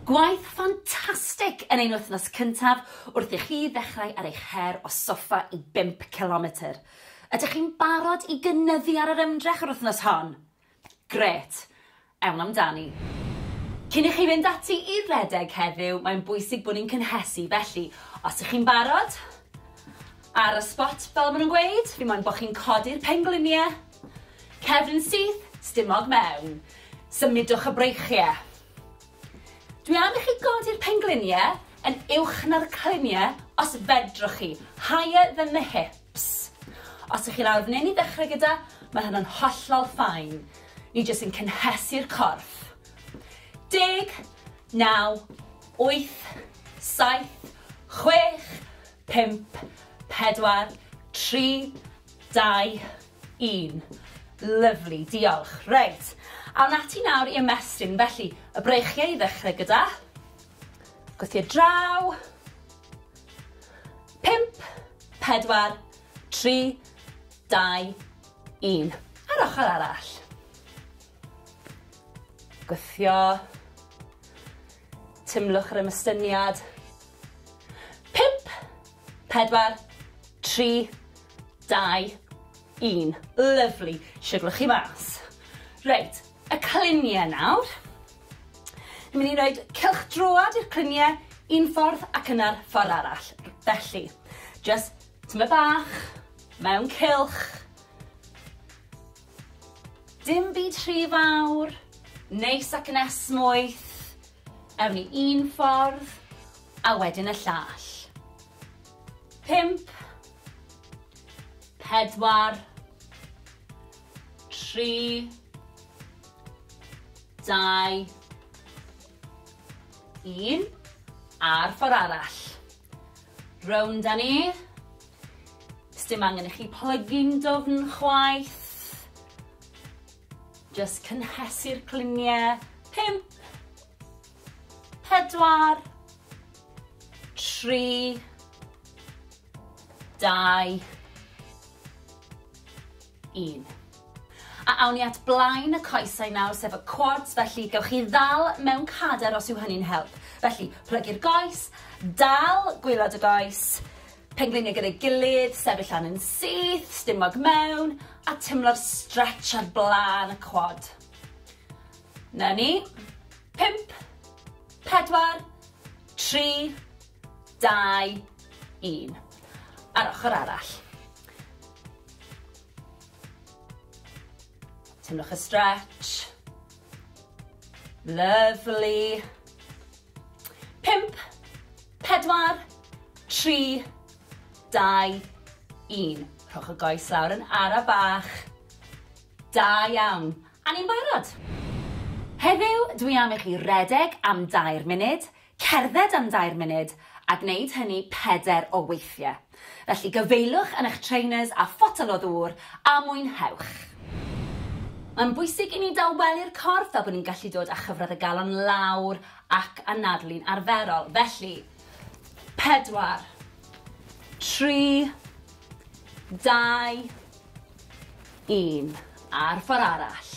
Gwaith ffantastig yn ein wythnos cyntaf wrth i chi ddechrau ar eich her o soffa i bump cilometr. Ydych chi'n barod i gynyddu ar yr ymdrech yr wythnos hon? Grêt! Ewn amdani. Cyn i chi fynd ati i redeg heddiw, mae'n bwysig bod ni'n cynhesu, felly os ych chi'n barod, ar y sbot fel maen nhw'n gweud, fi moyn bod chi'n codi'r pengliniau, Cefn syth, stumog mewn. Symudwch y breichie. Dwi am i chi godi'r penglunie yn uwch na'r clunie os fedrwch chi, higher than the hips. Os ych chi lawr f'nyn i ddechrau gyda, mae hynna'n hollol ffain. Ni jyst yn cynhesu'r corff. Deg, naw, wyth, saith, chwech, pump, pedwar, tri, Dau, un. Lyfli, diolch. Reit, awn ati nawr i ymestyn. Felly, y breichiau i ddechrau gyda. Gwth i'r draw. Pimp, pedwar, tri, dau, un. A'r ochr arall. Gwthio. Tymlwch yr ymystyniad. 4, 3, 2, 1. Lyfli, siwglo chi mas. Reit, y cluniau nawr. Ni'n mynd i roed cylch droad i'r cluniau un ffordd ac yna'r ffordd arall. Felly, just tyma bach, mewn cylch. Dim byd rhy fawr, neis ac yn esmwyth, ewn ni un ffordd a wedyn y llall. Pump, pedwar, tri, dau, un, a'r ffordd arall. Rownd â ni. Sdim angen i chi plygu'n dofn chwaith. Just cynhesu'r cliniau. Pimp. Pedwar. Tri. Dau. un. A awn ni at blaen y coesau nawr, sef y quads, felly gewch chi ddal mewn cader os yw hynny'n help. Felly, plygu'r goes, dal gwylod y goes, pengliniau gyda'i gilydd, sefyll lan yn syth, stumog mewn, a timlo'r stretch ar blaen y quad. Na ni. Pimp, pedwar, tri, dau, un. A'r ochr arall. Teimlwch y stretch. Lovely. Pimp, pedwar, tri, dau, un. Rhowch y goes lawr yn ara bach. Da iawn. A ni'n barod. Heddiw, dwi am i chi redeg am dair munud, Cerdded am dair munud, a gwneud hynny pedair o weithiau. Felly gyfeiliwch yn eich trainers a photel o ddŵr, a mwynhewch! Mae'n bwysig i ni dawelu'r corff fel bod ni'n gallu dod â chyfradd y galon lawr ac anadlu'n arferol. Felly, pedwar, tri, dau, un, a'r ffordd arall.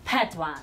Pedwar.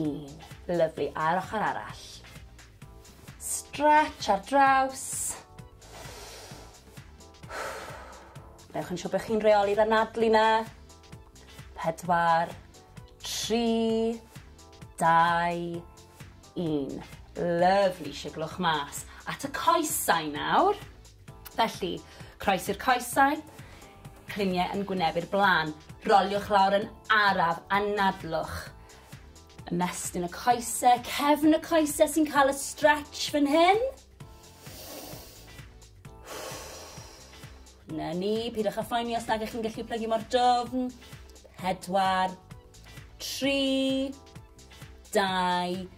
Un. Lyfli, a'r ochr arall. Stretch ar draws. Newch yn siŵr bod chi'n reoli'r anadlu na. Pedwar, tri, dau, un. Lyfli, siglwch mas. At y coesau nawr. Felly, croesi'r coesau, cliniau yn gwynebu'r blaen. Roliwch lawr yn araf a nadlwch. Ymestyn y coesau, cefn y coesau sy'n cael y stretch fan hyn. Na ni, pidwch â phoeni os nag ych chi'n gallu plygu mor dofn. Pedwar, tri, dau,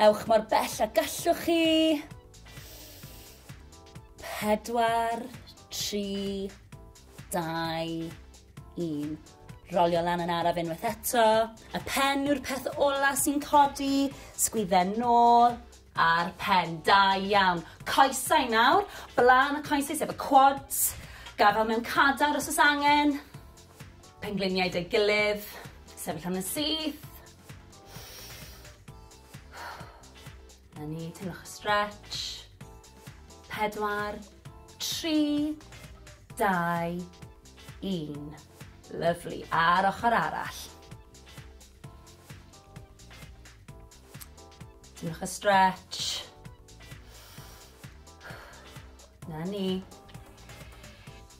Ewch mor bell a gallwch chi. Pedwar, tri, dau, un. Rolio lan yn araf unwaith eto. Y pen yw'r peth ola sy'n codi. Sgwydden nôl a'r pen. Da iawn. Coesau nawr. Blaen y coesau sef y quads. Gafel mewn cadar os oes angen. Pengliniau dy gilydd. Sefyll am yn syth. Na ni, teimlwch y stretch. Pedwar, tri, dau, un. Lyflu. A'r ochr arall. Teimlwch y stretch. Na ni.